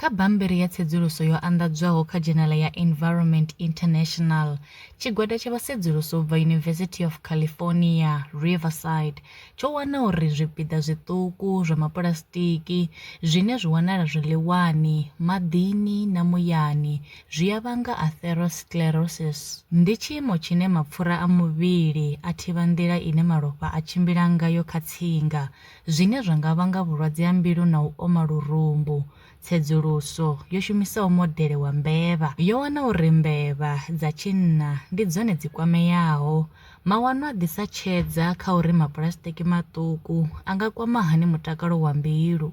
Kha bammbiri ya tsedzuluso yo anḓadzwaho kha dzhenala ya Environment International, tshigwada tsha vhasedzulusi u bva University of California, Riverside tsho wana uri zwipiḓa zwiṱuku zwa mapulasitiki zwine zwi wanala zwiḽiwani, maḓini na muyani zwi a vhanga atherosclerosis. Ndi tshiimo tshine mapfura a muvhili a thivha nḓila ine malofha a tshimbila ngayo kha tsinga, zwine zwa nga vhanga vhulwadze ha mbilu na u oma lurumbu. Tsedzuluso yo shumisaho modele wa mbevha yo wana uri mbevha dza tshinna ndi dzone dzi kwameaho. Mawanwa a ḓisa tshedza kha uri mapulasitiki maṱuku a nga kwama hani mutakalo wa mbilu.